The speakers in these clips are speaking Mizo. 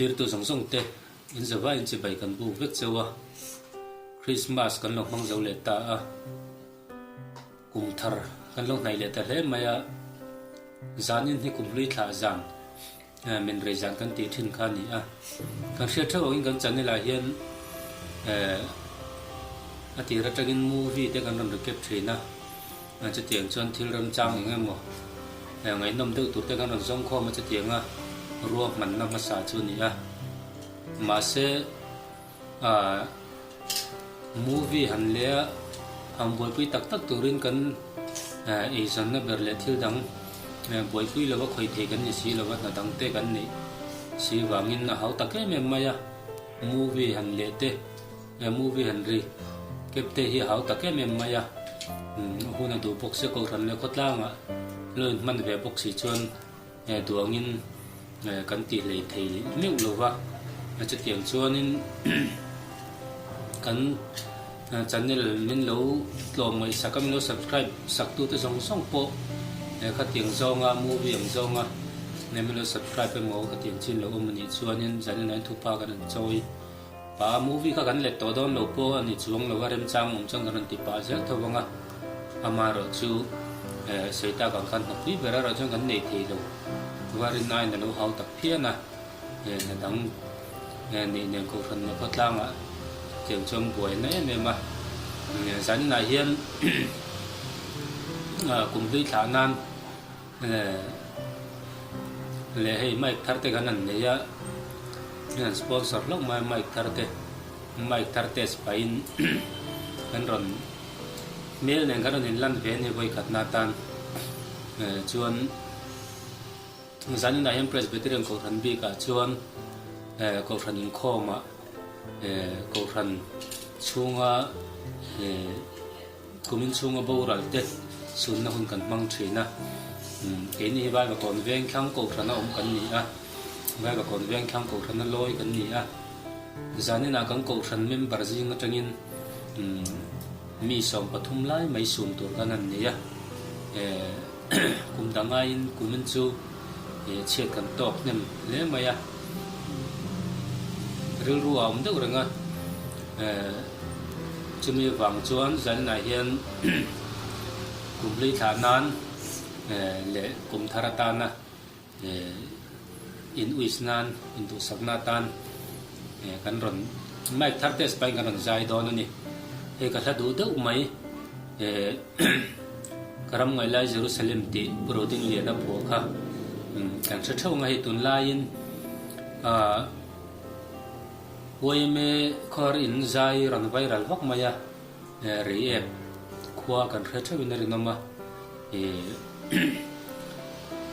Thlirtu zawng zawngte in zova in chibai kan buk vek cheu a, Krismas kan lo hmang zo leh ta a, kum thar kan lo hnaih leh ta hle mai a, zan in hi kum hlui thlah zan min rei zan kan tih thin kha a ni a, kan hriat theuh ang in kan channel ah hian a tir atangin movie te kan rawn ri kep thin a. A chutiang chuan thil rem chang eng emaw ngaihnawm deuh tur te khan rawn zawng khawm a chutiang a rua hmanna hmasa chu a ni a. Mahse ahh movie han leh a han buaipui tak tak turin kan eizawnna ber leh thil dang buaipui lo a khawithei kan ni si lo a hna dang te kan neih si vangin a hau tak em em mai a movie han leh te. He movie han ri kep te hi a hau tak em em mai a, a hun a duh bawk se Kohhran leh Khawtlang ah lo in hman ve bawk si chuan he duang in kan tih hlei thei meuh lo va, chutiang chuan in kan channel min lo tlawm ngaihsak a min lo subscribe sak tu te zawng zawng pawh he khatiang zawng a movie ang zawng a min lo subscribe emaw khatiang chin lo awm a nih chuan in zan in an thup a kan han chawi. Pa, movie kha kan let tawh dawn lo pawh a ni chuang lo a, remchang awm chuan kan rawn ti pah zel tho vang a, ama erawh chu Seita kan khan hnawk hlui ber erawh chuan kan nei thei lo, varin ain a lo hau tak phian a, hna dang neih nen kohhranna khawtlangah cheu chuan buaina em em a, zaninah hian kum hlui thlah nan. Eeh le hei mic thar te kan han nei a an han sponsor hlauh mai a mic thar te mic thar te spai in kan rawn hmel nen kan rawn in lan ve a ni vawi khat na atan eh chuan zan inah hian presbyterian kohhran bik ah chuan eh kohhran in khawm ah eh kohhran chhung a eh Kum inchhunga boralhte sunna hun kan hmang thin a, keini hi vai vakawn veng thlang kohrana awm kan ni a, vai vakawn veng thlang kohrana lawi kan ni a, zaninah kan kohhran member zing atangin mi sawm pathum lai mai sum tur khan an ni a. Kum dang aiin kumin chu he chhiat kan tawk hnem hle mai a, rilru a awm deuh reng a, chumi vang chuan Zalnah hian kum hleithlah nan leh kum thar atana He inwis nan induhsakna atan kan rawn Mike thar test pahin kan rawn zai dawn a ni. Hei ka hla duh deuh mai he ka ram ngaih lai Jerusalem tih Pu Roding Liana phuah kha kan hre theuh nga hei tun laiin YMA khawiar in zai ran vai ral vak mai a. Rei ek khua kan hre theuhin a rinawm a,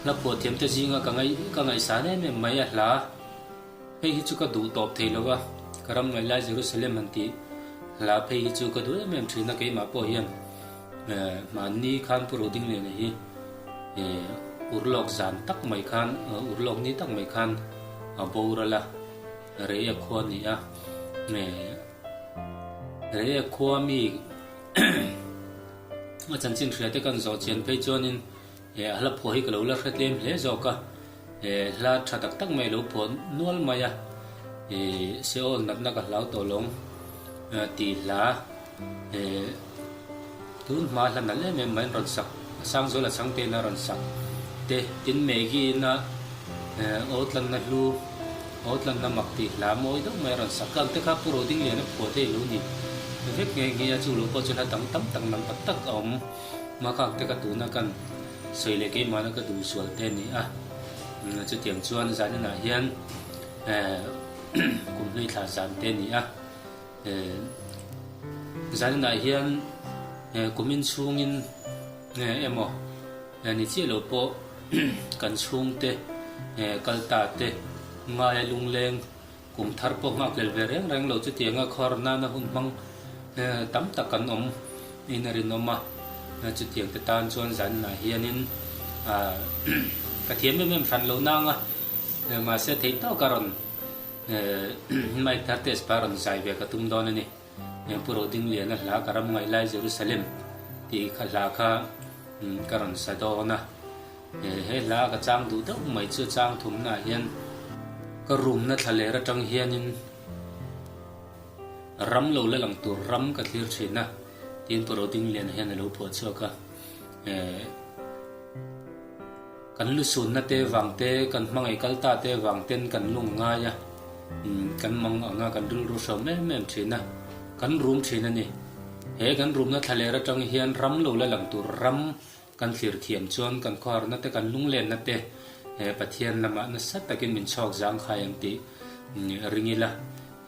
la phuah thiamte zinga ka ngaih ka ngaihsan em em mai a hla, hei hi chu ka duh tawp thei lo a, ka ram ngaih lai Jerusalem han tih hla phei hi chu ka duh em em thin a, keimah pawh hian mahni khan pu Roding leh nehi ur lawk zan tak mai khan ur lawk ni tak mai khan a bawr a la, rei ek khua a ni a. Rehek khua mi a chanchin hria te kan zawh chian phei chuanin eh a hla phuah hi ka lo la hre tlem hle zawk a, eh hla tha tak tak mai a lo phuah nual mai a, eh Seoul natna ka hlau tawh lawng ti hla eh. Tun hma hla nalh em em mahin rawn sak, a sang zawl a chhang te ina rawn sak te, tin Maggie-ina aw tlanna hlu, aw tlanna mak tih hla mawi deuh mai a rawn sak. Tlâng te kha Pu Rotding Lian a phuah thei lo ni vek nghe nghe a, chung lo pawh chuan a dang tam tak lam tak tak a awm. Makhak te kha tuna kan sawi leh keimahna ka duh sual te a ni a, chutiang chuan zan inah hian kum hmeithla zan te a ni a. He zainah hian he kumin chhungin he emaw he ni chiah lo pawh kan chhungte he kal ta te ngaia lungleng kum thar pawh nghak lel ve reng reng lo chutianga khawer nana hun hmang he tam tak kan awm in a rinawm a chutiang te tan chuan zainah hianin a ka thiam em em hran lo nanga he mahse thei tawka rawn Hi mic thar test kha rawn zai ve ka tum dawn a ni. Eng pu ro ding liana hla ka ram ngaih lai Jerusalem tih kha hla kha ka rawn sa dawn a. He hla ka chang duh deuh mai chu chang thum na hian ka room na thla ler atang hian in ram lo la lang tur ram ka thlir thin a tin pu ro ding liana hian a lo phuah chhuak a. Kan lu sunna te vang te, kan hmangaih kal ta te vang ten kan lung ngai a, umm, kan mang ang a, kan rilru hrawm em em thin a, kan rum thin a ni. He kan rumna thlaler atang hian ram lo la lang tur ram kan thlir thiam chuan kan khuaharna te, kan lunglenna te he Pathian lamah nasa takin min chhawk zang khai ang tih ring ila,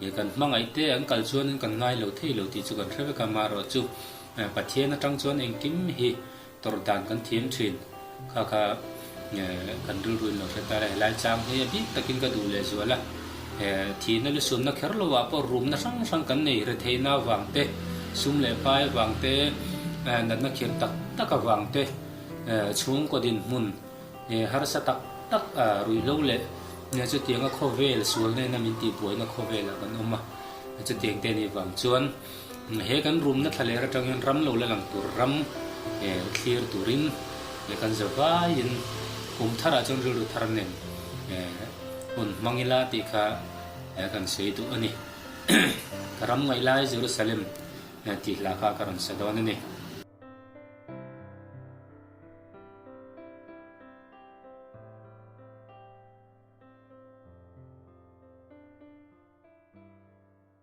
he kan hmangaih te an kal chuan in kan ngai lo thei lo tih chu kan hre vek a, marawh chu Pathian atang chuan engkim hi Tawrh dan kan thiam thin. Kha kha kan rilruin lo hre kal a, helai chang hi a bik takin ka duh lehzual a, thihna leh sumna kher lo ah pawh rumna hrang hrang kan nei hre thei na vang te, sum leh pai vang te, natna khirh tak tak avang te, chhungkaw din hmun harsa tak tak a ruih lo leh chutianga khawvel sualnena min tihbuaina khawvel ah kan awm a, chutiang te nih vang chuan. He kan rumna thla ler atang hian ram lo la lang tur ram thlir turin leh kan ze vaiin kum tharah chuan rilru thar nen hun hmang ila tih kha kan sawi duh a ni. Ka ram ngaih lai Jerusalem tih hla kha ka rawn sa dawn a ni.